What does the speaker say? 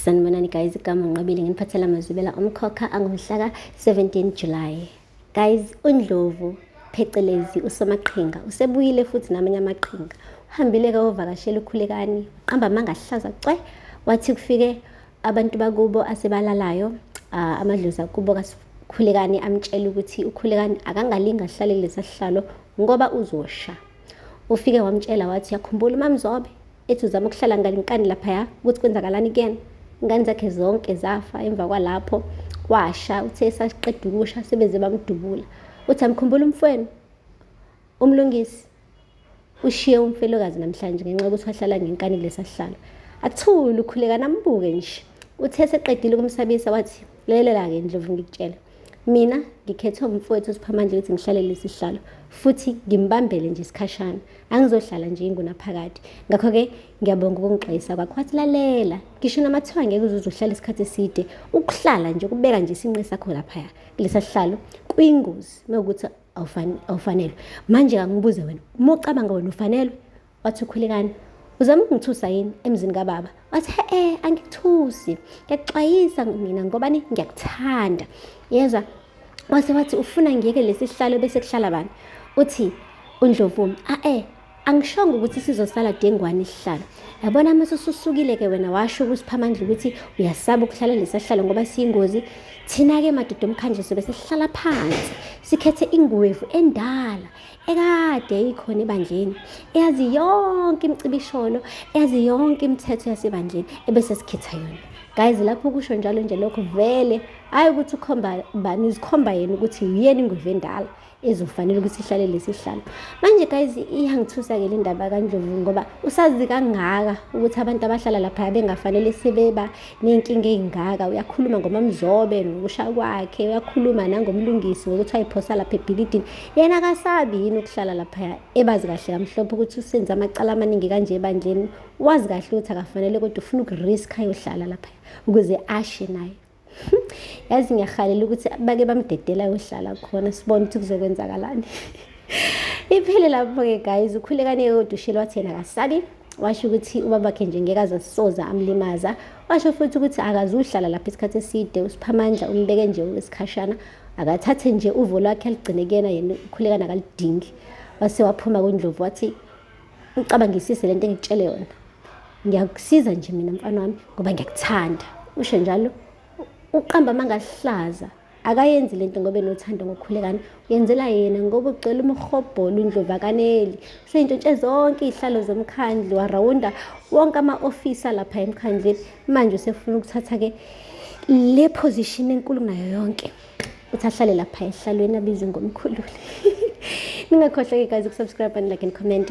sanibonani guys igama nqabile nginiphathela amazwibela omkhokha angomhlaka 17 july guys undlovu phecelezi usomaqhinga usebuyile futhi namanye amaqhinga uhambile ke wovakashela ukhulekani uqamba amanga ahlaza cwe wathi kufike abantu bakubo asebalalayo uh, amadlozi akubo kasikhulekani amtshela ukuthi ukhulekani akangalingi ahlale kulesa sihlalo ngoba uzosha ufike wamtshela wathi yakhumbula umamzobe ethi uzama ukuhlala ngalinkani laphaya ukuthi kwenzakalani kuyena ingane zakhe zonke zafa emva kwalapho washa uthe esaqeda ukusha sebeze bamdubula uthi amkhumbula umfweni umlungisi ushiye umfelokazi namhlanje ngenxa yokuthi wahlala ngenkani kulesa sihlalo athule ukhuleka nambuke nje uthe seqedile ukumsabisa wathi lelelela-ke ndlovu ngikutshela Mina ngikhethwe umfowethu uSiphamandla ukuthi ngihlale lesi sihlalo futhi ngimbambele nje isikhashana. Angizohlala nje ingunaphakade. Ngakho-ke ngiyabonga ukungixwayisa kwakho. Wathi lalela, ngisho noma kuthiwa ngeke uzuze uhlale isikhathi eside, ukuhlala nje ukubeka nje isinqe sakho laphaya kulesa sihlalo kuyingozi mewukuthi awufanelwe. Manje kangibuze wena, uma ucabanga wena ufanelwe wathi ukhulekani uzama ukungithusa yini emzini kababa wathi he-e angikuthusi ngiyakuxwayisa mina ngobani ngiyakuthanda yezwa wase wathi ufuna ngiyeke lesi sihlalo bese kuhlala bani uthi undlovumi a-e angishongo ukuthi sizosala dengwane isihlalo yabona uma sesusukile-ke wena washo kusiphamandla ukuthi uyasaba ukuhlala lesahlalo ngoba siyingozi thina-ke madoda omkhanjiso besihlala phansi sikhethe inguwevu endala ekade ikhona ebandleni eyazi yonke imicibisholo eyazi yonke imithetho yasebandleni ebese sikhetha yona guys lapho kusho njalo nje lokho vele hayi ukuthi ukhomba bani uzikhomba yena ukuthi uyena ingweve endala ezofanele ukuthi ihlale lesihlalo manje guys iyangithusa-ke le ndaba kandlovu ngoba usazi kangaka ukuthi abantu abahlala lapha bengafanele sebeba ney'nkinga ey'ngaka uyakhuluma ngomamzobe nokusha kwakhe uyakhuluma nangomlungisi ngokuthi ayiphosa lapha ebhilidini yena akasabi yini ukuhlala laphaya ebazi kahle kamhlophe ukuthi usenze amacala amaningi kanje ebandleni wazi kahle ukuthi akafanele kodwa ufuna ukurisk ayohlala laphaya ukuze ashe naye yazi ngiyahalela ukuthi bake bamdedela ayohlala khona sibone ukuthi kuzokwenzakalani iphele lapho-ke guys ukhulekane kodwa ushelo wathi yena akasabi washo ukuthi ubabakhe nje ngeke aze soza amlimaza washo futhi ukuthi akazuhlala lapha isikhathi eside usiphamandla umbeke nje isikhashana akathathe nje uvo lwakhe aligcine kuyena yena ukhulekana akalidingi wase waphuma kundlovu wathi ucabangisise le nto engitshele yona ngiyakusiza nje mina mfana wami ngoba ngiyakuthanda usho njalo uqamba amangahlaza akayenzi le nto ngoba enothando ngokukhulekana uyenzela yena ngoba ugcwele umhobholo undlovakaneli useyintshotshe zonke iy'hlalo zomkhandlu warawunda wonke ama-ofisa lapha emkhandleni manje usefuna ukuthatha-ke le position enkulu kunayo yonke uthi ahlale lapha ehlalweni abizwe ngomkhululi ningakhohlwa-ke guys ukusubscribe and like and comment